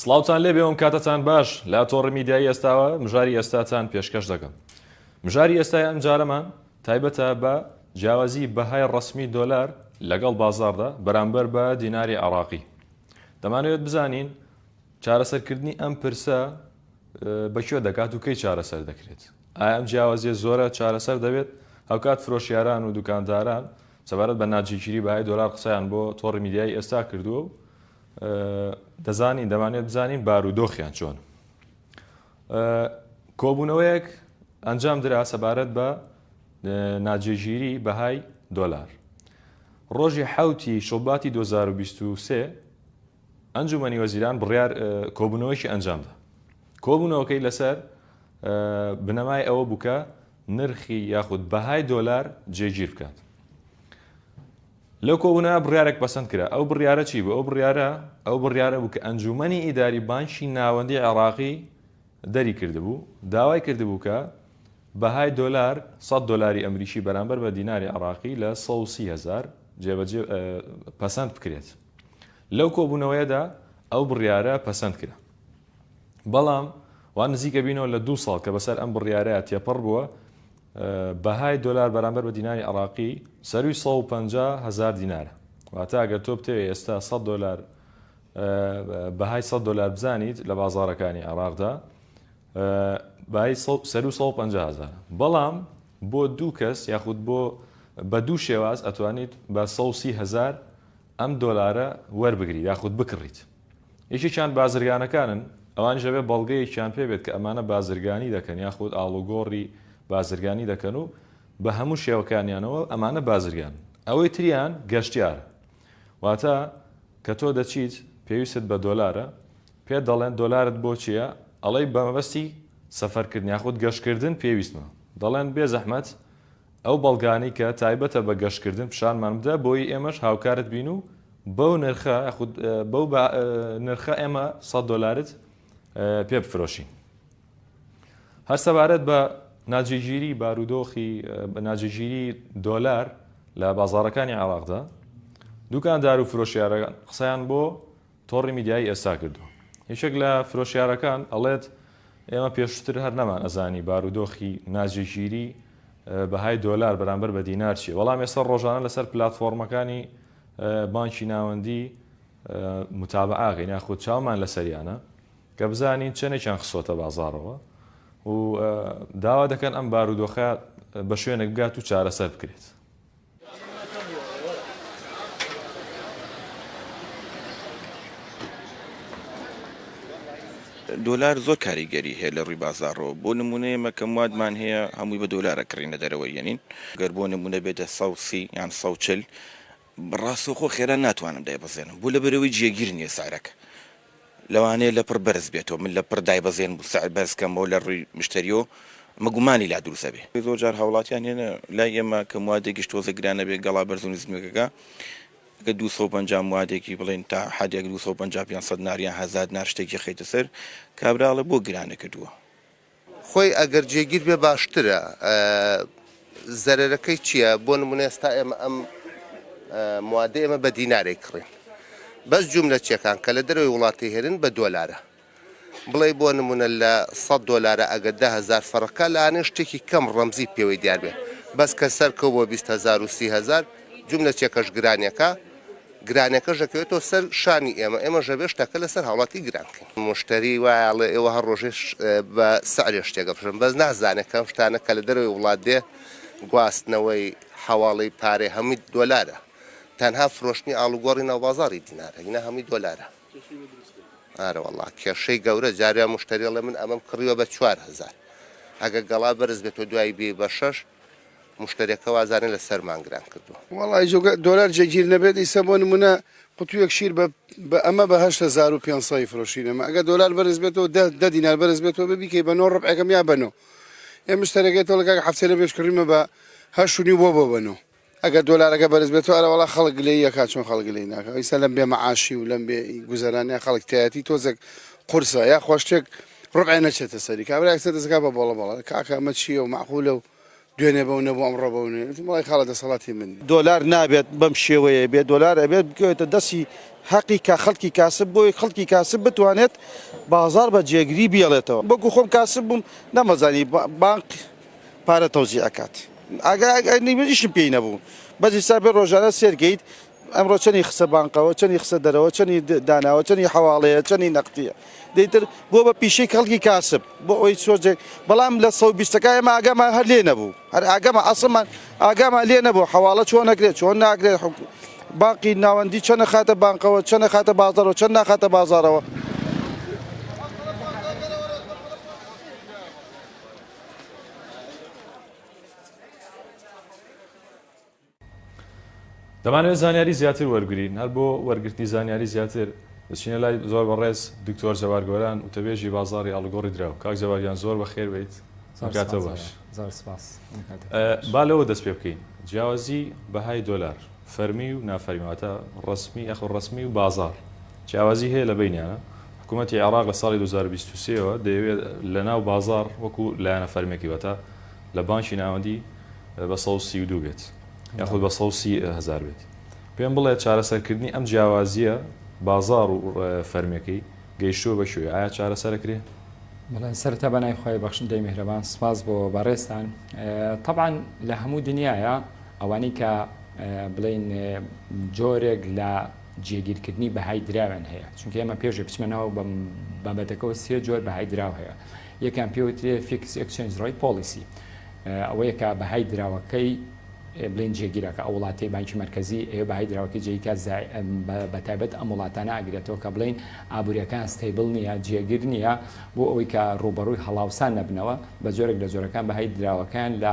سڵاوتان لێبێ وم کاتەتان باش لا تۆڕی میدیایی ئێستاوە مژاری ئێستاتان پێشکەش دەکەم مژاری ئێستای ئەمجارەمان تایبەتە بە جیاوازی بەهای ڕەسمی دۆلار لەگەڵ بازاردا بەرامبەر بە دیناری عراقی دەمانەوێت بزانین چارەسەرکردنی ئەم پرسە بەکوێ دەکات و کەی چارەسەر دەکرێت ئایا ئەم جیاوازیە زۆرە چارەسەر دەبێت هەوکات فرۆشیاران و دوکانداران سەبارەت بە ناجیگیری بەهای دۆلار قسەیان بۆ تۆڕی میدیای ئێستا کردووە و دەزانین دەمانێت بزانین بارودۆخیان چۆن کۆبوونەوەیەک ئەنجام درا سەبارەت بە ناجێگیری بەهای دۆلار ڕۆژی حوتی شوباتی 2023 ئەنجومەنی وەزیران بڕیار کۆبوونەوەیکی ئەنجامدا کۆبوونەوەکەی لەسەر بنەمای ئەوە بووکە نرخی یاخود بەهای دۆلار جێگیر بکات لەو کۆبوونەوە بڕیارێک پەسەند کرا، ئەو بڕیارە چی بوو؟ ئەو بڕیارە ئەو بڕیارە بوو کە ئەنجوومەنی ئیداری بانکی ناوەندیی عێراقی دەری کردبوو، داوای کردبوو کە بەهای دۆلار، سەد دۆلاری ئەمریکی بەرامبەر بە دیناری عێراقی لە سەد و سی هەزار جێبەجێ پەسەند بکرێت. لەو کۆبوونەوەیەدا ئەو بڕیارە پەسەند کرا. بەڵام وا نزیکە بینەوە لە دوو ساڵ کە بەسەر ئەم بڕیارە تێپەڕ بووە، بەهای دۆلار بەرامبەر بە دیناری عێراقی سەرووی سەد و پەنجا هەزار دینارە، واتە ئەگەر تۆ بتەوێت ئێستا سەد دۆلار بەهای سەد دۆلار بزانیت لە بازاڕەکانی عێراقدا بەهای سەروو سەد و پەنجا هەزارە، بەڵام بۆ دوو کەس یاخود بۆ بە دوو شێواز ئەتوانیت بە سەد و سی هەزار ئەم دۆلارە وەربگریت یاخود بکڕیت. یەکێکیان بازرگانەکانن، ئەوانیش ئەبێت بەڵگەیەکیان پێ بێت کە ئەمانە بازرگانی دەکەن یاخود ئاڵوگۆڕی بازرگانی دەکەن و بە هەموو شێوەکانیانەوە ئەمانە بازرگانن. ئەوەی تریان گەشتیارە. واتە کە تۆ دەچیت پێویستت بە دۆلارە، پێت دەڵێن دۆلارت بۆ چییە؟ ئەڵێی بە مەبەستی سەفەرکردن یاخود گەشتکردن پێویستمە. دەڵێن بێزەحمەت ئەو بەڵگانەی کە تایبەتە بە گەشتکردن پیشانمان بدە بۆی ئێمەش هاوکارت بین و بەو نرخە خود بەو نرخە ئێمە سەد دۆلارت پێ بفرۆشین. هەر سەبارەت بە ناجێگیری بارودۆخی ناجێگیری دۆلار لە بازاڕەکانی عێراقدا، دوکاندار و فرۆشیارەکان قسەیان بۆ تۆڕی میدیایی ئێستا کردووە. یەکێک لە فرۆشیارەکان ئەڵێت، ئێمە پێشوتر هەر نەمان ئەزانی بارودۆخی ناجێگیری بەهای دۆلار بەرامبەر بە دینار چیە، بەڵام ئێستا ڕۆژانە لەسەر پلاتفۆڕمەکانی بانکی ناوەندی متابعە ئەکەین یاخود چاومان لەسەریانە کە بزانین چەنێکیان خستۆتە بازاڕەوە و داوا دەکەن ئەم بارودۆخە بە شوێنێک بگات و چارەسەر بکرێت. دۆلار زۆر کاریگەری هەیە لە ڕووی بازاڕەوە بۆ نموونە ئێمە کە موادمان هەیە هەمووی بە دۆلار ئەکڕینە دەرەوە یەنین گەر بۆ نموونە بێتە سەد و سی یان سەد و چل ڕاستەوخۆ خێرا ناتوانم دایبەزێنم بۆ لەبەرەوەی جێگیر نییە سعرەکە لەوانەیە لەپڕ بەرز بێتەوە من لەپڕ دایبەزێنم و سعر بەرز کەمەوە لە ڕووی مشتەریو ئەمە گومانی لا دروست ئەبێ. زۆر جار هاوڵاتیان هەیە لای ئێمە کە موادێکیش تۆزێ گران ئەبێ گەڵا بەرز و نزمەکەکە ئەگەر دوو سەد و پەنجا موادێکی بڵێن تا حەدێک دوو سەد و پەنجا پێنج سەد نار یان هەزار نار شتێکی خەیتە سەر کابرا ئەڵێ بۆ گرانە کردووە؟ خۆی ئەگەر جێگیر بێ باشترە زەرەرەکەی چییە بۆ نمونە ئێستا ئێمە ئەم موادە ئێمە بە دینارێک کڕین بەس جوملە چێکان کە لە دەروی وڵاتی هێرن بە دۆلارە بڵێ بۆ نمونە لە 100 دلارە ئەگەر دههزار فەڕەکە لاانێ شتێکی کەم ڕەمزی پێوەی دیاربێ بەس کە سەرکەو بۆ 20هزار و سیهزار جوملە چێکەش گرانیەکە گرانیەکەش دەکەوێتەوە سەر شانی ئێمە، ئێمەش دەبێت شتەکە لەسەر هاوڵاتی گران بکەین. موشتەری وایە ئەڵێ ئێوە هەر ڕۆژێ بە سعرێ شتێک ئەفرۆشن بەس نازانێ کە ئەم شتانە کە لە دەرەوەی وڵات دێ گواستنەوەی، حەواڵەی پارەی هەمووی دۆلارە تەنها فرۆشتنی ئاڵوگۆڕی ناو بازاڕی دینارە ئینا هەمووی دۆلارە. ئارە وەڵا کێشەی گەورە جارێ موشتەری ئەڵێ من ئەمەم کڕیوە بە چوار هەزار ئەگەر گەڵا بەرز بێت و دوای بێی بە شەش، موشتەرێکە وازانێ لە سەرمان گران کردووە. وەڵای جوگە دۆلار جێگیر نەبێت ئیسە بۆ نمونە قوتویەک شیر بە بە ئەمە بە هەشت هەزار و پێنج سەد فرۆشین ئەمە ئەگەر دۆلار بەرز بێتەوە دە دە دینار بەرز بێتەوە بە بیکەی بە نۆ ڕبعەکەم یا بە نۆ ئێ مشتەرەکەی تۆڵە کاک حەفتەی لە بێش کڕیمە بە هەشت و نیو بۆ بۆ بە نۆ ئەگەر دۆلارەکە بەرز بێتەوە ئەرێ وەڵا خەڵک گلەیی ئەکا چۆن خەڵک گلەیی ناکا ئیستا لەم بێ مەعاشی و لەم بێ گوزەرانیا خەڵک تایەتی تۆزێک قورسە یا خوا شتێک ڕبعێ نەچێتە سەری کابرایەک سەر دەسەکا بە بۆڵە بەڵە کاکە ئەمە چییە و مەعقولە و دوێنێ بەو نەبوو ئەمڕۆ بەو نوێ وتم وەڵای خاڵە دەسەڵاتی من نییە. دۆلار نابێت بەم شێوەیە بێت دۆلار ئەبێت بکەوێتە دەستی هەقی کا خەڵکی کاسب بۆی خەڵکی کاسب بتوانێت بازاڕ بە جێگری بیەڵێتەوە وەکو خۆم کاسب بووم نەمەزانی بانق پارە تەوزی ئەکات ئاگایشم پێی نەبوو بەس ئیستا بێ ڕۆژانە سێرکەیت ئەمڕۆ چەنی خسە بانقەوە چەنی خسە دەرەوە چەنی داناوە چەنی حواڵەیە چەنی نەختیە دەیتر بۆ بە پیشەی کەڵکی کاسب بۆ ئەوی سۆزێک بەڵام لە سە بیستەکای ئەمە ئاگامان هەر لێ نەبوو هەر ئاگەمە ئەسڵمان ئاگامان لێ نەبوو حواڵە چۆن نەکرێت چۆن ناکرێت باقی ناوەندی چەنە خاتە بانقەوە چەنە خاتە بازارەوە چەند ناخاتە بازارەوە. دەمانەوێت زانیاری زیاتر وەرگرین هەر بۆ وەرگرتنی زانیاری زیاتر دەچینە لای زۆر بەڕێز دکتۆر جەوار گۆران وتەبێژی بازاری ئاڵوگۆڕی دراو کاک جەواریان زۆر بەخێر بیت زۆرکاتە باش با لەوە دەست پێ بکەین جیاوازی بەهای دۆلار فەرمی و نافەرمیواتە ڕسمی ئەخۆ ڕسمی و بازار جیاوازی هەیە لە بینیانە حکومەتی عێراق لە ساڵی دوو هەزار و بیست و سێ ەوە دەیەوێت لە ناو بازاڕ وەکو لایەنە فەرمییەکی واتە لە بانکی ناوەندی بە سەد و سی و دوو بێت یاخود بە سەد و سی هەزار بێت. پێم بڵێ چارەسەرکردنی ئەم جیاوازییە بازاڕ و فەرمییەکەی گەیشتووە بە کوێ؟ ئایا چارەسەر ئەکرێ؟ بەڵێ سەرەتا بە ناوی خوای بەخشندەی میهرەبان سپاس بۆ بەڕێزتان تەبعەن لە هەموو دنیایە ئەوانەی کە بڵێین جۆرێک لە جێگیرکردنی بەهای دراویان هەیە چونکە ئێمە پێشێ بچمە ناو بابەتەکەەوە سێ جۆر بەهای دراو هەیە یەکان پێوترێ فیکس ئەکسنج ڕای پۆلیسی ئەوەیە کە بەهای دراوەکەی بلین جێگیرەکە ئەو وڵاتی بانکی مرکزی ئێ بەهای دراوەکە جێیکە بە تایبەت ئەم وڵاتانە ئاگرێتەوە کە بڵین ئابوووریەکان ستەیبل نییە جێگر نییە بۆ ئەوەی کە ڕوبەڕووی هەڵاوسان نەبنەوە بە جۆرێک لە جۆرەکان بەهای دراوەکان لە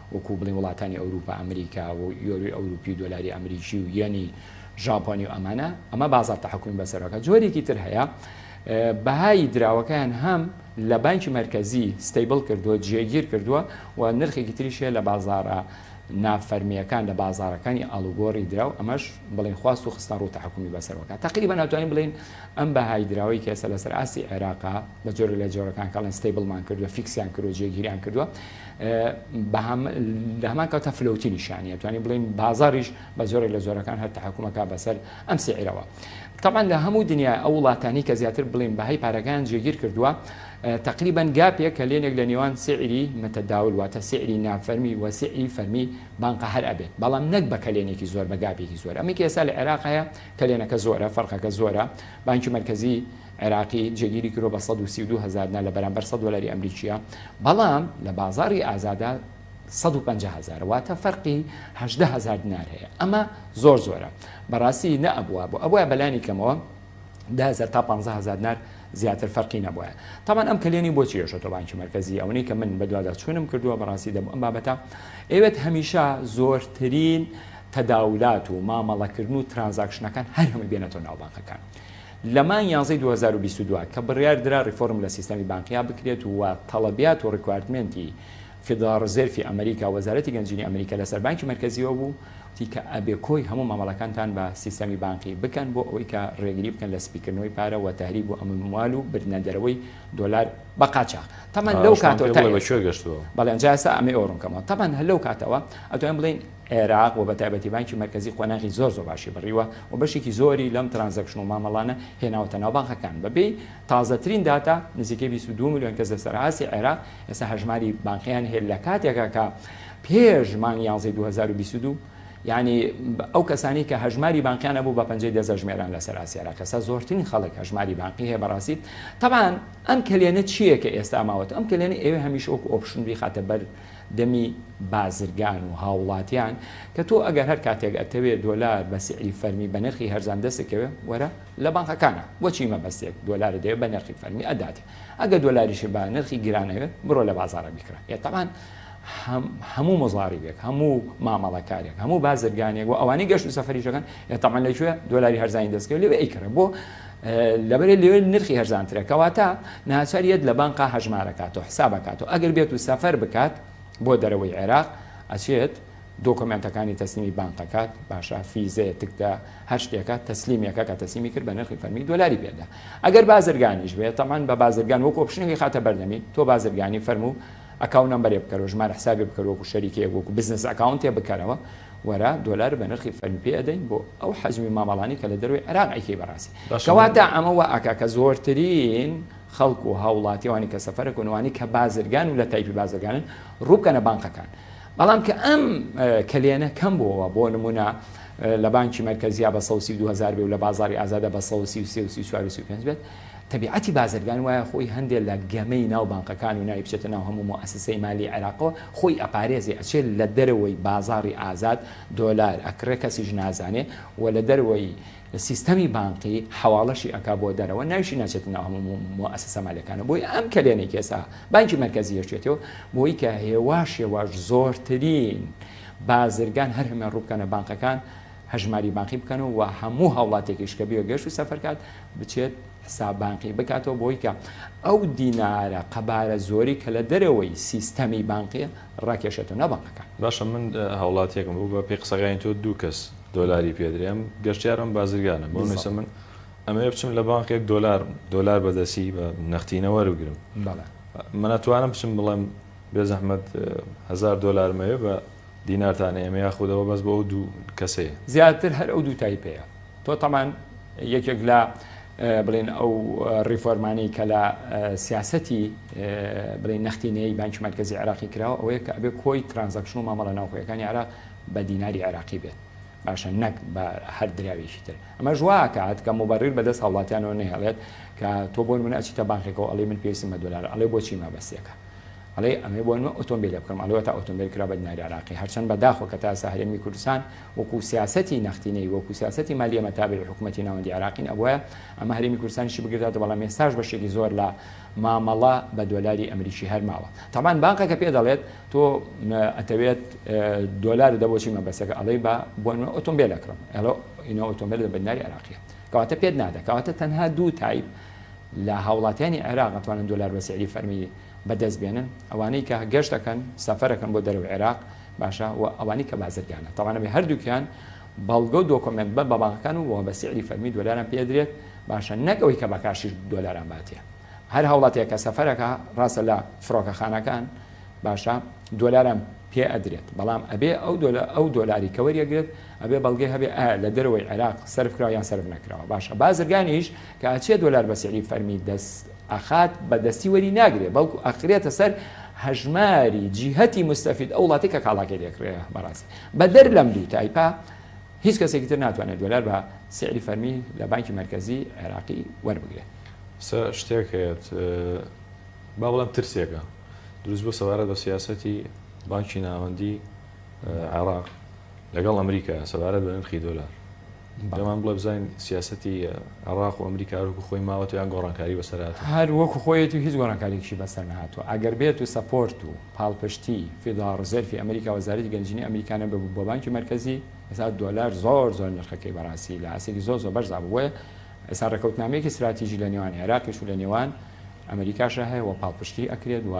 وەکو بڵێین وڵاتانی ئەوروپا ئەمریکا و یۆروی ئەوروپی و دۆلاری ئەمریکی و یەنی ژاپۆنی و ئەمانە ئەمە بازار تحکمی بەسەرەکە جۆرێکی تر هەیە بەهای دراوەکەیان هەم لە بانکی مرکزی ستیبل کردووە جێگیر کردووە و نرخێکی تریشە لە بازارە نافەرمیەکان لە بازارەکانی ئالوگۆری دراو ئەمەش بڵین خواست و خستان ڕوو تحکومی بەسەرەکە تقریبا ناتوانین بڵین ئەم بەهای دراوی کێسە لەسەر ئاستی عێراقا لە جۆر لە جۆرەکان کاڵن ستیبلمان کردو فیکسیان کردو جێگیریان کردووە لە هەمان کاتە فلوتی نیشانە توانین بڵین بازاریش بە زۆرێک لە زۆرەکان هەر تحکومەکە بەسەر ئەم سعرەوە تاان لە هەموو دنیا ئەو وڵاتانی کە زیاتر بڵین بەهای پارەکان جێگیر کردووە تقریبان گاپێک کە لێنێک لە نێوان سعری متەداول واتە سعری نافەرمی و سعری فەرمی بانقە هەر ئەبێت بەڵام نەک بە کەلێنێکی زۆر بە گاپێکی زۆر ئەمەکی ئێستا لە عێراق هەیە کەلێنەکە زۆرە فەرقەکە زۆرە بانکی مرکزی عێراقی جێگیری کرۆ بە سەد و سی و دوو هەزار دینار لە بەرامبەر سەد دۆلاری ئەمریکییە، بەڵام لە بازاڕی ئازادا سەد و پەنجا هەزارە، واتە فەرقی هەژدە هەزار دینار هەیە، ئەمە زۆر زۆرە، بەڕاستی نەئەبووە، ئەبوایە بەلانی کەمەوە دە هەزار تا پانزە هەزار دینار زیاتر فەرقی نەبوایە، تابان ئەم کەلێنی بۆ چی ئێشێتەوە بانکی مەرکەزی، ئەوەنەی کە من بەدوادا چوونم کردووە بەڕاستی دەبوو ئەم بابەتە ئەیەوێت هەمیشە زۆرترین تەداولات و مامەڵەکردن و ترانزاکشنەکان هەر هەمووی بێنێتەوە ناو بانکەکان. لە مانگی یانزەی دوو هەزار و بیست و دوو کە بڕیاردرا ڕیفۆرم لە سیستەمی بانقیا بکرێت و تەڵەبیات و ڕیکواردمێنتی فیدڕاڵ ڕزێرفی ئەمریکا و وەزارەتی گەنجینی ئەمریکا لە سەر بانکی مەرکەزیەوە بوو وتی کە ئەبێ کۆی هەموو مامەڵەکانتان بە سیستەمی بانقی بکەن بۆ ئەوەی کە ڕێگری بکەن لە سپیکردنەوەی پارە و تەهریب و ئەموال و بردنە دەرەوەی دۆلار بە قاچاخ تەمەن لەو کاتەوە تا ئێستا بەڵێ جا ئێستا ئەمەی ئەوە ڕوون کەمەوە تەمەن هەر لەو کاتەوە ئەتوانین بڵێین عێراق و بەتایبەتی بانکی مەرکەزی قۆناغی زۆر زۆر باشی بڕیوە و بەشێکی زۆری لەم ترانزەکشن و مامەڵانە هێناوەتە ناو بانقەکان بەپێی تازەترین داتا نزیکەی بیست و دوو ملیۆن کەس لەسەر ئاستی عێراق ئێستا هەژماری بانقییان هەیە لەکاتێکا کە پێش مانگی یانزەی دوو هەزار و بیست و دوو یانی ئەو کەسانەی کە هەژماری بانقییان هەبوو بە پەنجەی دەست ئەژمێران لەسەر ئاستی عێراق ئێستا زۆرترین خەڵک هەژماری بانقی هەیە بەڕاستی تەبعەن ئەم کەلێنە چییە کە ئێستا ماوەتەوە ئەم کەلێنە ئەوێ هەمیشە وەکو ئۆپشن بیخاتە بەر دەمی بازرگان و هاوڵاتیان کە تۆ ئەگەر هەر کاتێک ئەتەوێ دۆلار بە سعری فەرمی بە نرخی هەرزان دەستت کەوێ وەرە لە بانقەکانە بۆچی مەبەستێک دۆلارت دەوێ بە نرخی فەرمی ئەداتێ ئەگەر دۆلاریشی بە نرخی گران ئەوێت بڕۆ لە بازاڕە بیکڕە یە تەبان هەموو مزاریبێک هەموو مامەڵەکارێک هەموو بازرگانێک و ئەوانەی گەشت و سەفەریش دەکەن یە تەبان لەکوێ دۆلاری هەرزانی دەست کەوێ لەوێ ئەیکڕێ بۆ لەبەرێ لەوێ نرخی هەرزانترە کەواتە ناچار یەت لە بانقا هەژمارەکاتەوە حسابەکاتەوە ئەگەر بێت و سەفەر بکات بۆ دەرەوەی عێراق ئەچێت دۆکۆمێنتەکانی تەسلیمی بانقەکات باشە فیزەیە تکدا هەر شتێکە تەسلیمێکە کە تەسیمی کرد بە نرخی فەرمی دۆلاری پێدا ئەگەر بازرگانیش بێت تەمان بە بازرگان وەکۆ پشنەکەی خاتە بەردەمی تۆ بازرگانی فەرموو ئەکاونت نەمبەرێ بکەرەوە ژمارە حسابێ بکەرەوە وەکو شەریکەیەک وەکو بزنس ئەکاونتێ بکەرەوە وەرە دۆلار بە نرخی فەرمی پێ ئەدەین بۆ ئەو حەجمی مامەڵانی کە لە دەروی عێراق ئەیکەی بەڕاستی کەواتە ئەمە وە ئەکا کە زۆرترین خەڵک و هاوڵاتیوانی کە سەفەرە کۆنوانی کە بازرگان و لە تایپی بازرگانن ڕووبکەنە بانقەکان بەڵام کە ئەم کلێنە کەم بووەوە بۆ نمونە لە بانکی مەرکەزیا بە 132هزار بێ و لە بازاری ئازادە بە 133 و 34 بێت تەبیعەتی بازرگان وایە خۆی هەندێ لە گەمەی ناو بانقەکان و ناوی بچێتە ناو هەموو موئەسسەی مالی عێراقەوە خۆی ئەپارێزێ ئەچێ لە دەرەوەی بازاڕی ئازاد دۆلار ئەکڕێ کەسیش نازانێ و لە دەرەوەی سیستەمی بانقی حەواڵەشی ئەکا بۆ دەرەوە ناویشی ناچێتە ناو هەموو موئەسسە مالیەکانە بۆیە ئەم کەلێنەی کە ئێستا بانکی مەرکەزی یەشێتەوە بۆی کە هێواش هێواش زۆرترین بازرگان هەر هەمویان ڕووبکەنە بانقەکان هەژماری بانقی بکەن و وە هەموو هاوڵاتێکیش کە بێ گەشت و سەفەر کات بچێت حساب بانقی بکاتەوە بۆی کە ئەو دینارە قەبارە زۆری کە لە دەرەوەی سیستەمی بانقی ڕاکێشێتە ناو بانقەکە باشە من هاوڵاتیەکم بوو بە پێی قسەکانی تۆ دوو کەس دۆلاری پێدرێم گەشتیارم بازرگانە بۆ نووسە من ئەمەوێ بچم لە بانقێک دۆلار دۆلار بەدەسی بە نەختینەوە وەرگرم منە توانم بچم بڵێم بێ زەحمەت هزار دۆلارمەوێ بە دینارتانە ئێمە یاخود ئەوە بەس بۆ ئەو دوو کەسەیە. زیاتر هەر ئەو دوو تایپەیە تۆ تەمان یەکێک لە بڵێن ئەو ڕیفۆرمانەی کە لە سیاستی بڵێن نەختینەی بانکی مرکزی عێراقی کراوە ئەوەیە کە ئەبێ کۆی ترانزەکشن و مامەڵە ناوخۆیەکانی عێراق بە دیناری عێراقی بێت باشە نەک بە هەر دراوێکی تر ئەمە ژواکات کە مبڕیر بەدەست هاوڵاتیانەوە نەهێڵێت کە تۆ بۆن من ئەچیتە بانکێکەوە ئەڵی من پێویستم بە دلار ئەڵێ بۆچی مەبەستێکە ئەڵێی ئەمەوێ بۆ نوێ ئۆتۆمبیلێ بکڕم ئەڵێ وەتا ئۆتۆمبیل کرا بە دیناری عراقی هەرچەند بە داخۆ کە تا ئێستا هەرێمی کوردستان وەکوو سیاسەتی نەختینەی وەکوو سیاسەتی مالیە مە تابعی حکوومەتی ناوەندی عراقین ئەبوایە ئەمە هەرێمی کوردستانیشی بگرێتەوە بەڵام ئێستاش بەشێکی زۆر لە مامەڵە بە دۆلاری ئەمریکی هەر ماوە تەبان بانقەکە پێ دەڵێت تۆ ئەتەوێت دۆلار دە بۆچی مەبەستەکە ئەڵێی بە بۆ نوێ ئۆتۆمبیل ئەکڕم ئەڵۆ ئینۆ ئۆتۆمبیل لە بە دیناری عراقیە کەواتە پێت نادە کەواتە تەنها دوو تایپ لە هاوڵاتیانی عێراق ئەتوانن دۆلار بە سعری فەرمی بەدەست بێنن ئەوانەی کە گەشت ئەکەن سەفەر ئەکەن بۆ دەرەوەی عێراق باشە و ئەوانی کە بازرگانە تاوانە بێ هەردووکیان بەڵگە و دۆکۆمنت بە بەباغەکان و بە سعری فەرمی دۆلاران پێدرێت باشە نەکەوەی کە بەکاشی دۆلاران باتێ هەر هەوڵاتەیە کە سەفەرەکە ڕاستە لە فڕۆکەخانەکان باشە دۆلاران پێ ئەدرێت بەڵام ئەبێ ئەو دۆلە ئەو دۆلاری کە وەریەگرێت ئەبێ بەڵگەی هەبێ ئایا لە دەرەوەی عێراق سرفکراویان سرف نەکراوە باشە بازرگانیش کە ئەچێ دۆلار بە سعری فەرمی دەست ئەخات بە دەستی وەری ناگرێ بەڵکو ئەخرێتە سەر هەژماری جیهەتی موستەفید ئەو وڵاتەی کە کاڵاکەی لێ کڕیە بەڕاستی بەدەر لەم دوو تایپە هیچ کەسێکی تر ناتوانێت دۆلار بە سعری فەرمی لە بانکی مەرکەزی عێراقی وەربگرێت سە شتێک هەیەت با بڵم ترسێکە دروست بۆ سەبارەت بە سیاسەتی بانکی ناوەندی عێراق لەگەڵ ئەمریکا سەبارەت بە نرخی دۆلار پێمان بڵێ بزانین سیاسەتی عێڕاق و ئەمریکا هەر وەکو خۆی ماوەتەوە یان گۆڕانکاری بەسەر هاتووە؟ هەر وەکو خۆیەتی و هیچ گۆڕانکارییەکیشی بەسەر نەهاتووە. ئەگەر بێت و سەپۆرت و پاڵپشتی فیدڕاڵ ڕزێرفی ئەمریکا و وەزارەتی گەنجینەی ئەمریکا نەببوو بۆ بانکی مەرکەزی، ئێستا دۆلار زۆر زۆر نرخەکەی بەڕاستی لە ئاستێکی زۆر زۆر بەرزا بوو. بۆیە ئێستا ڕێکەوتنامەیەکی ستراتیژی لە نێوان عێراقیش و لە نێوان ئەمریکاشا هەیە و پاڵپشتی ئەکرێت و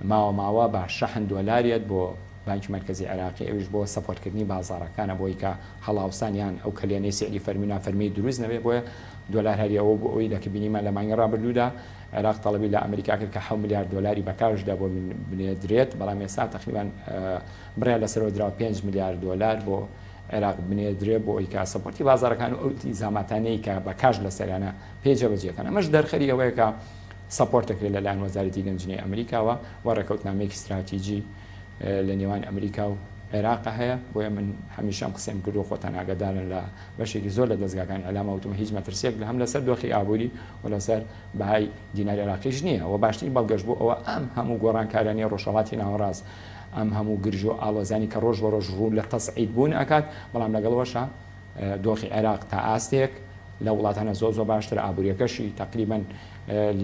ماوە ماوە بە شەحن دۆلار یەت بۆ بانکی مەرکەزی عێراقی ئەویش بۆ سەپۆرت کردنی بازاڕەکان ئەبۆی کە هەڵاوسان یان ئەو کەلێنەی سیعری فەرمی و نافەرمی دروست نەبێ بۆیە دۆلار هەری ئەوە بوو ئەوی دەکە بینیمان لە مانگی ڕابردوودا عێراق تەڵەبی لە ئەمریکا کرد کە حەو ملیار دۆلاری بە کاش دا بۆ بنێدرێت بەڵام ئێستا تەقریبان بڕیار لەسەرەوە دراوە پێنج ملیار دۆلار بۆ عێراق بنێدرێ بۆ ئەوی کە سەپۆرتی بازاڕەکان و ئەو ئیلتیزاماتانەی کە بە کاش لەسەریانە پێ جێبەجێکەن ئەمەش دەرخەری ئەوەیە کە سەپۆرت دەکرێت لە لایەن وەزارەتی گەنجینەی ئەمریکاوە و ڕێکەوتنامەیەکی ستراتیجی لە نێوان ئەمریکا و عێراق هەیە بۆیە من هەمیشە ئەم قسەم کردو خۆتان ئاگادارن لە بەشێکی زۆر لە دەستگاکانی ئەلاما وتم هیچ مەترسیەک لە هەم لەسەر دۆخی ئابووری و لەسەر بەهای دیناری عێراقیش نییە و باشترین بەڵگەش بۆ ئەوە ئەم هەموو گۆڕانکارانەی ڕۆژهەڵاتی ناوەڕاست ئەم هەموو گرژ و ئاڵۆزانی کە ڕۆژ بە ڕۆژ ڕوو لە تەسعید بوون ئەکات بەڵام لەگەڵەوەشە دۆخی عێراق تا ئاستێک لە وڵاتانە زۆر زۆر باشترە ئابووریەکەشی تقریبن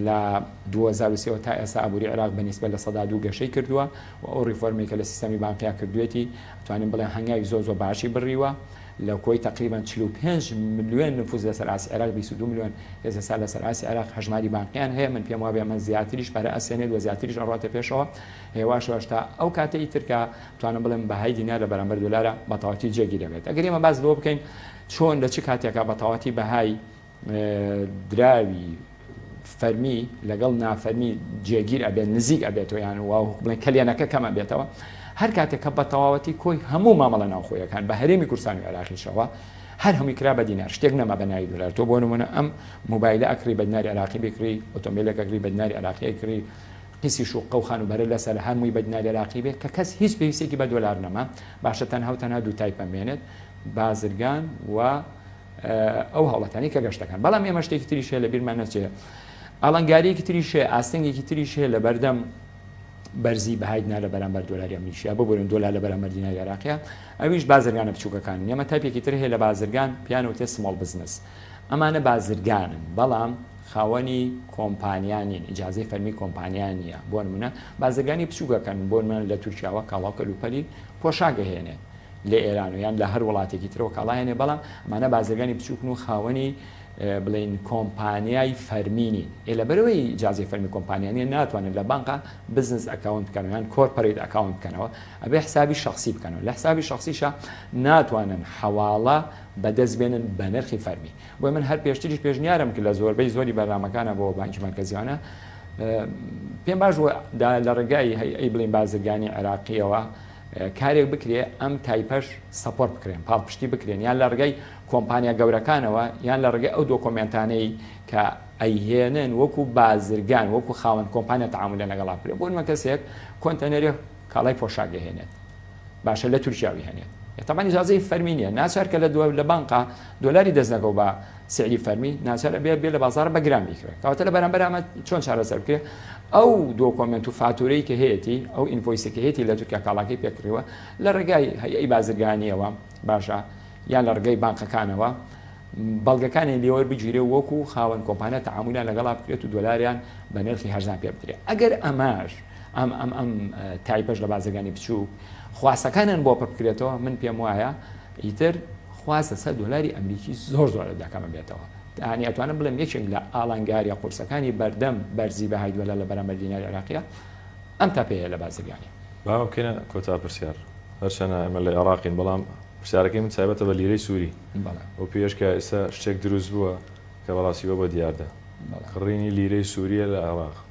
لە 2023 وە تا ئێستا ئابووری عێراق بە نیسبە لە سەدا دوو گەشەی کردووە و ئەو ریفۆرمی کە لە سیستەمی بانقیا کردوێتی توانین بڵێ هەنگاوی زۆر زۆر باشی بڕیوە لە کۆی تقریبان 45 ملیۆن نفوز لەسەر ئاسی عێراق 22 ملیۆن هێزەسا لەسەر ئاسی عێراق هەژماری بانقیان هەیە من پێم وابێ من زیاتریش پەرە ئەسێنێت و زیاتریش ئەڕاتە پێشەوە هێواشەوەش تا ئەو کاتەی ترکە توانم بڵێم بەهای دینار لە بەرامبەر دۆلارا بە تەواوەتی جێگیر دەبێت. ئەگەر ئێمە باس لەوە بکەین چۆن لە چ کاتێکا بە تەواوەتی بەهای دراوی فەرمی لەگەڵ نافەرمی جێگیر ئەبێت نزیک ئەبێتەوە یان و بڵێن کەلێنەکە کەم ئەبێتەوە هەر کاتێک کە بە تەواوەتی کۆی هەموو مامەڵە ناوخۆیەکان بە هەرێمی کورسان و عراقیشەوە هەر هەمووی کرا بە دینار شتێک نەما بە ناوی دلار تۆ بۆ نمونە ئەم موبایلە ئەکری بە دیناری عراقی بکری ئۆتۆمبیلەکە کری بە دیناری عراقی کری پیسی شوققە و خانوبەرە لەسەر هەر موی بە دیناری عراقی بێ کە کەس هیچ پێویستێکی بە دۆلار نەما باشە تەنها و تەنها دوو تای پەمبێنێت بازرگان و ئەو هەوڵەتانی کە گەشتەکان بەڵام ئێمە شتێکی تریش هەیە لە بیرمان نەچێ ئاڵنگاریەکی تریش هەیە ئاستنگێکی تریش هەیە لە بەردەم بەرزی بەهای دینار لە بەرامبەر دۆلاری ئەمریکا ببورن دۆلار لە بەرامبەر دیناری عراقیە ئەویش بازرگانە بچووکەکان ئێمە تایپێکی تر هەیە لە بازرگان پیانەوتێ سماڵ بزنس ئەمانە بازرگانن بەڵام خاوەنی کۆمپانیا نین ئیجازەی فەرمی کۆمپانیا نییە بۆ نمونە بازرگانی بچووکەکەن بۆ نمونە لە تورکیاوە کاڵاو کەلوپەلی پۆشاگە هێنێت لە ئێران و یان لە هەر وڵاتێکی ترەوە کاڵایەنێ بەڵام ئەمانە بازرگانی بچووکن و خاوەنی بڵین کۆمپانیای فەرمینی ئێ لە بەرەوەی جیازی فەرمی کۆمپانیانە ناتوانن لە بانقا بزنس ئەکاونت بکەنیان کۆرپەریت ئەکاونت بکەنەوە ئەبێ حسابی شخصی بکەنەوە لە حسابی شخصیشە ناتوانن حەواڵە بەدەست بێنن بەنرخی فەرمی بۆی من هەر پێشتریش پێشنیارم کرد لە زۆربەی زۆری بەرنامەکانە بۆ بانکی مەرکەزیانە پێم باش دا لە ڕێگای هەی بڵین بازرگانی عێراقیەوە کارێک بکرێ ئەم تایپەش سەپۆر بکرێن پاڵپشتی بکرێن یان لە ڕگەی کۆمپانیا گەورەکانەوە یان لە ڕگەی ئەو دۆکۆمنتانەی کە ئەیهێنن وەکو بازرگان وەکو خاوەن کۆمپانیا تعاملە لەگەڵا بکرێت بۆ من کەسێک کۆنتەنەری کاڵای پۆشاگەهێنێت باشە لە تورکیا بیهێنێت تەبەن ئیجازەی فەرمی نیە ناچار کە لە دو لە بانقا دۆلاری دەست نەکەو بە سعری فەرمی ناچار ئەبێ بێ لە بازار بە گران بیکرێ کەواتە لە بەرامبەر ئەمە چۆن چارەسەر بکرێ ئەو دۆکۆمنت و فاتورەی کە هەیەی ئەو ئینفۆیسەکە هەیەی لە تورکیا کاڵاکەی پێکڕیوە لە ڕێگای هەیەی بازرگانیەوە باشە یان لە ڕگەی بانقەکانەوە بەڵگەکانی لێوەر بگیرێ وەکو خاوەن کۆمپانیا تعاملان لەگەڵا بکرێت و دۆلاریان بە نرخی هەرزان پێ بدرێت ئەگەر ئەماش ئەم ئەم ئەم تایپەش لە بازرگانی بچووک خواستەکانیان بۆ پڕبکرێتەوە من پێم وایە ئیتر خواستە سەر دۆلاری ئەمریکی زۆر زۆر لە دەکەمە بێتەوە تانی ئەتوانم بڵێم یەکێک لە ئالانگاریە قورسەکانی بەردەم بەرزی بەهای دۆلار لە بەرامبەر دیناری عراقیە ئەم تاپەیە لە بازرگانی باوکەە کۆتا پرسیار هەرچەنە ئەمە لە عێراقین بەڵام پرسیارەکەی من تایبەتە بە لیرەی سووری ئەو پێش کە ئێستا شتێک دروست بووە کە بەڕاستی بە بە دیاردە کڕینی لیرەی سووریە لە عێراق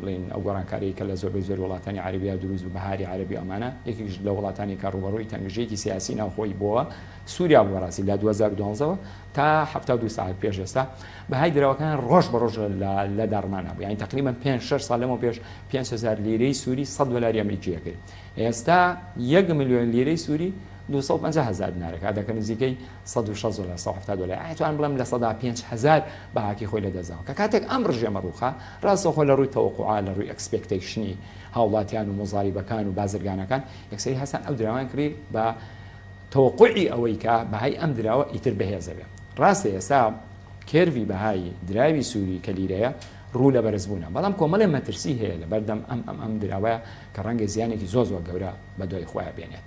بڵێین ئەو گۆڕانکاریەی کە لە زۆربەی زۆر وڵاتانی عەرەبیا دروست بوو بەهاری عەرەبی ئەمانە یەکێکیش لە وڵاتانی کە ڕووبەڕووی تەنگژەیەکی سیاسی ناوخۆیی بۆوە سوریا بوو بەڕاستی لە دوو هەزار و دوازدە وە تا حەفتا و دوو ساعەت پێش ئێستا بەهای دراوەکان ڕۆژ بە ڕۆژ لە داڕمان نەبوو یانی تقریبا پێنج شەش ساڵ لەمەوە پێش پێنج هەزار لیرەی سووری سەد دۆلاری ئەمریکی ئەکرد ئێستا یەک ملیۆن لیرەی سووری دوو سەد و پەنجا هەزار دینارەکە دەکەن نزیکەی سەد و شەست دۆلار سەد و حەفتا دۆلار یانی توانم بڵێم لە سەدا پێنج هەزار بەهاکەی خۆی لەدەست داوە کە کاتێک ئەم ڕژێمە ڕووخا ڕاستەوخۆ لە ڕووی تەوەقوعا لە ڕووی ئێکسپێکتەیشنی هاوڵاتیان و موزاریبەکان و بازرگانەکان یەکسەری هەستان ئەو دراوەیان کڕی بە تەوەقوعی ئەوەی کە بەهای ئەم دراوە ئیتر بەهێزە بێ ڕاستە ئێستا کێرڤی بەهای دراوی سووری کە لیرەیە ڕوو لە بەرزبوونە بەڵام کۆمەڵێ مەترسی هەیە لەبەردەم ئەم ئەم ئەم دراوەیە کە ڕەنگە زیانێکی زۆر زۆر گەورە بەدوای خۆیان بێنێت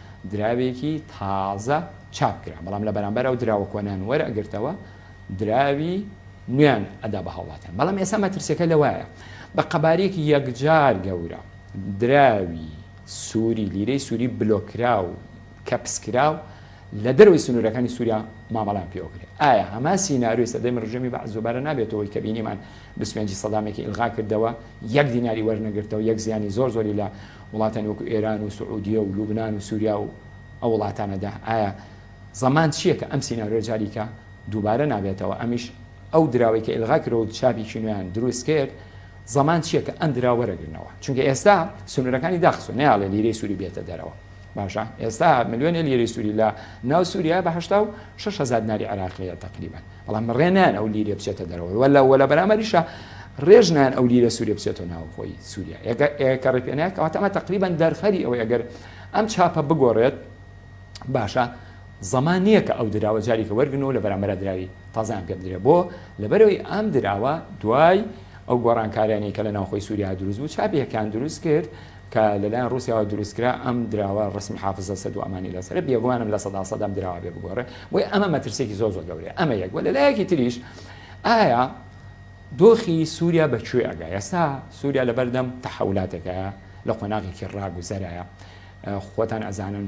دراوێکی تازە چاپ کرا، بەڵام لە بەرامبەر ئەو دراوە کۆنەیان وەرئەگرتەوە دراوی نوێیان ئەدا بە هاوڵاتیان، بەڵام ئێستا مەترسیەکە لەوەیە بە قەبارەیەکی یەکجار گەورە دراوی سوری، لیرەی سوری بلۆککراو، کەپسکراو لە دەرەوەی سنورەکانی سوریا مامەڵەیان پێوەکرێت، ئایا هەمان سیناریۆی سەردەمی ڕژێمی بەعس دوبارە نابێتەوەی کە بینیمان بیست و پێنج ی سەدامێکی ئیلغاکردەوە یەک دیناری وەرنەگرتەوە یەک زیانی زۆر زۆری لە وڵاتانی وەکو ئێران و سعودیە و لوبنان و سووریا و ئەو وڵاتانەدا ئایا زەمان چییە کە ئەم سینارۆ جاریکە دووبارە نابێتەوە ئەمیش ئەو دراوی کە ئلغا کرۆ و چاپی کینویان دروست کرد زەمان چییە کە ئەم درا وەرەگرنەوە چونکە ئێستا سنوورەکانی داخسۆ ناڵێ لیرەی سووری بێتە دەرەوە باشە ئێستا ملیۆنێ لیرەی سووری لە ناو سووریا بە 6 هزار ناری عراقیە تقریبان بەڵام ڕێ نایەن ئەو لیرە بچێتە دەرەوە وە لە وە لە بەرامبەریشا ڕێژ نایەن ئەو لیرە سووریە بچێتەوە ناوخۆی سووریا ئێگە ئێکە ڕێ پێ نایەت کەواتە ئەمە تەقریبەن دەرخەری ئەوەی ئەگەر ئەم چاپە بگۆڕێت باشە زەمان نییە کە ئەو دراوە جاریکە وەرگن و لە بەرامبەر دراوی تازان پێ بدرێ بۆ لەبەرەوەی ئەم دراوە دوای ئەو گۆڕانکاریانەی کە لە ناوخۆی سووریا دروست بوو چاپێکیان دروست کرد کە لەلایەن ڕوسیاوە دروستکرا ئەم دراوە ڕسمی حافزە سەد و ئەمانی لەسەرە بێگومانم لە سەدا سەد ئەم دراوە بێ بگۆڕێ بۆیە ئەمە مەترسێکی زۆر زۆر گەورەیە ئەمە یەک وە لەلایەکی تریش ئایا دۆخی سووریا بە کوێ ئەگا ئێستا سووریا لەبەردەم تەحولاتێکە لە قۆناغێکی ڕاگوزەرایە خۆتان ئەزانن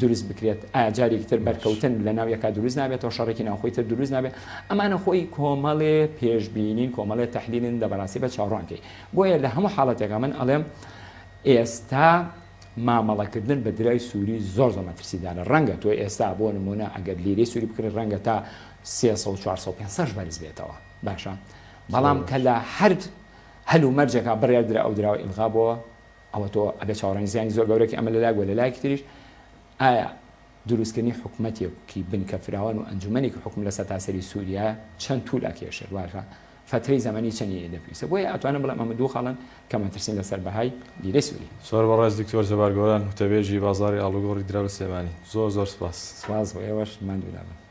دروست بکرێت ئایا جارێکی تر بەرکەوتن لە ناو یەکا دروست نابێتەوە شەڕێکی ناوخۆی تر دروست نابێت ئەمانە خۆی کۆمەڵێ پێشبینین کۆمەڵێ تحلیلن لە بەڕاستی بە چاوڕانکەی بۆیە لە هەموو حاڵەتێکە من ئەڵێم ئێستا مامەڵەکردن بە درای سووری زۆر زۆر مەترسیدارە ڕەنگە تۆ ئێستا بۆ نمونە ئەگەر لیری سووری بکرێت ڕەنگە تا 300 بەرز بێتەوە باشە بەڵام کە لە هەر هەل و مەرجێکا بڕێ درا ئەو دراوە ئیلغا بۆ ئەوە تۆ ئەگەر چاوەڕێی زیانی زۆر گەورەکی ئەمە لەلایەک و لەلایەکی تریش ئایا دروستکردنی حکومەتێکی بنکە فراوان و ئەنجومەنێکی حکوم لە سەتاسەری سووریا چەند توول ئەکێشێت واتە فەترەی زەمەنی چەنی دەپیسە بۆیە ئەتوانم بڵێم ئەمە دوو خاڵن کە مەترسین لەسەر بەهای لیرەی سووری زۆر بەڕێز دکتۆر جەبار گۆران وتەبێژی بازاڕی ئاڵوگۆڕی دراو لە سلێمانی زۆر زۆر سپاس. سپاس بۆ ئێوەش ماندوو نەبن.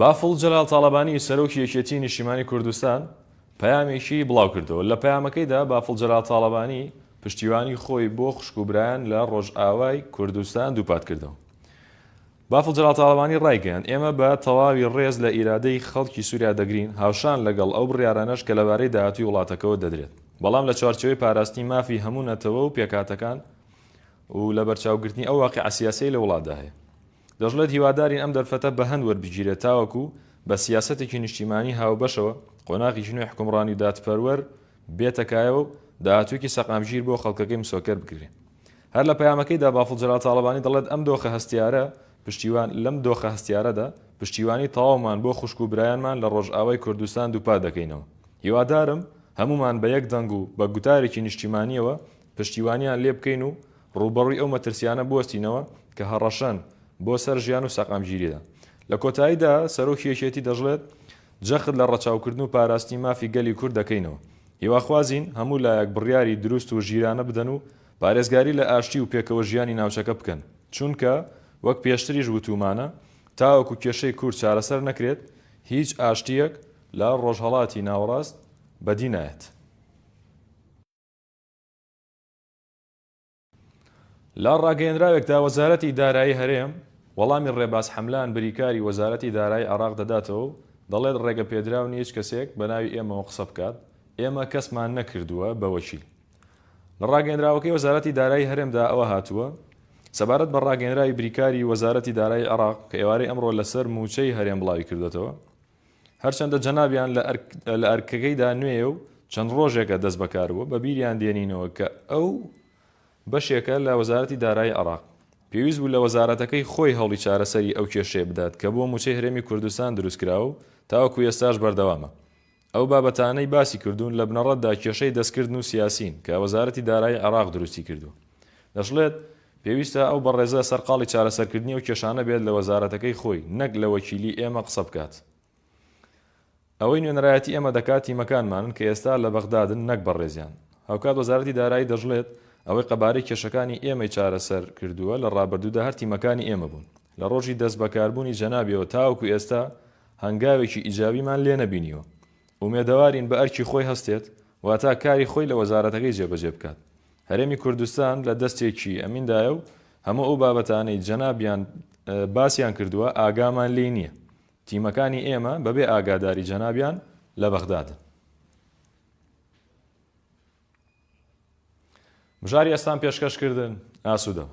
بافڵ جەلال تاڵەبانی سەرۆکی یەکێتیی نیشتیمانی کوردستان پەیامێکی بڵاوکردەوە، لە پەیامەکەیدا بافڵ جەلال تاڵەبانی پشتیوانی خۆی بۆ خوشک و برایان لە ڕۆژئاوای کوردستان دووپاتکردەوە. بافڵ جەلال تاڵەبانی ڕایگەیاند، ئێمە بە تەواوی ڕێز لە ئیرادەی خەڵکی سووریا دەگرین، هاوشان لەگەڵ ئەو بڕیارانەش کە لەبارەی داهاتووی وڵاتەکەوە دەدرێت، بەڵام لە چوارچێوەی پاراستنی مافی هەموو نەتەوە و پێکهاتەکان و لەبەرچاوگرتنی ئەو واقیعە سیاسییەی لە وڵاتدا هەیە. دەشڵێت هیوادارین ئەم دەرفەتە بەهەند وەربگیرێت تاوەکو بە سیاسەتێکی نیشتیمانی هاوبەشەوە قۆناغێکی نوێی حوکمڕانی و دادپەروەر بێتە کایەوە و داهاتوویەکی سەقامگیر بۆ خەڵکەکەی مسۆکەر بکرێت. هەر لە پەیامەکەیدا بافڵ جەلال تاڵەبانی دەڵێت ئەم دۆخە هەستیارە پشتیوان لەم دۆخە هەستیارەدا پشتیوانی تەواومان بۆ خوشک و برایانمان لە ڕۆژئاوای کوردستان دووپات دەکەینەوە هیوادارم هەموومان بە یەک دەنگ و بە گوتارێکی نیشتیمانییەوە پشتیوانیان لێبکەین و ڕووبەڕووی ئەو مەترسیانە بوەستینەوە کە هەڕەشەن بۆ سەر ژیان و سەقامگیریدا. لە کۆتاییدا سەرۆکی یەکێتی دەشڵێت، جەخت لە ڕەچاوکردن و پاراستنی مافی گەلی کورد دەکەینەوە، هیواخوازین هەموو لایەک بڕیاری دروست و ژیرانە بدەن و پارێزگاری لە ئاشتی و پێکەوە ژیانی ناوچەکە بکەن، چونکە وەک پێشتریش وتوومانە، تاوەکو کێشەی کورد چارەسەر نەکرێت، هیچ ئاشتییەک لە ڕۆژهەڵاتی ناوەڕاست بەدی نایەت. لە ڕاگەیەنراوێکدا وەزارەتی دارایی هەرێم وەڵامی ڕێباز حەملان بریکاری وەزارەتی دارایی عێراق دەداتەوە و دەڵێت ڕێگەپێدراو نییە هیچ کەسێک بەناوی ئێمەوە قسە بکات، ئێمە کەسمان نەکردووە بە وەکیل. لە ڕاگەیەنراوەکەی وەزارەتی دارایی هەرێمدا ئەوە هاتووە، سەبارەت بە ڕاگەیەنراوی بریکاری وەزارەتی دارایی عێراق کە ئێوارەی ئەمڕۆ لەسەر مووچەی هەرێم بڵاویکردووەتەوە، هەرچەندە جەنابیان لە ئەرکەکەیدا نوێیە و چەند ڕۆژێکە دەست بەکاربووە بە بیریان دێنینەوە کە ئەو بەشێکە لە وەزارەتی دارایی عراق پێویست بوو لە وەزارەتەکەی خۆی هەوڵی چارەسەری ئەو کێشەیە بدات کە بۆ موچەی هەرێمی کوردستان دروستکراوە و تاوەکو ئێستاش بەردەوامە ئەو بابەتانەی باسی کردوون لە بنەڕەتدا کێشەی دەستکردن و سیاسین کە وەزارەتی دارایی عراق دروستی کردووە دەشڵێت پێویستە ئەو بەڕێزە سەرقاڵی چارەسەرکردنی ئەو کێشانە بێت لە وەزارەتەکەی خۆی نەک لە وەکیلی ئێمە قسە بکات. ئەوەی نوێنەرایەتی ئێمە دەکات تیمەکانمانن کە ئێستا لە بەغدادن نەک بەڕێزیان. هاوکات وەزارەتی دارایی دەشڵێت ئەوەی قەبارەی کێشەکانی ئێمەی چارەسەر کردووە لە ڕابردوودا هەر تیمەکانی ئێمە بوون. لە ڕۆژی دەست بەکاربوونی جەنابیەوە تاوەکو ئێستا هەنگاوێکی ئیجابیمان لێ نەبینیوە. ئومێدەوارین بە ئەرکی خۆی هەستێت واتا کاری خۆی لە وەزارەتەکەی جێبەجێ بکات. هەرێمی کوردستان لە دەستێکی ئەمیندایە و هەموو ئەو بابەتانەی جەنابیان باسیان کردووە ئاگامان لێی نییە. تیمەکانی ئێمە بەبێ ئاگاداری جەنابیان لە بەغدادن. بژاری ئەستان پێشکەشکردن، ئاسوودەبن.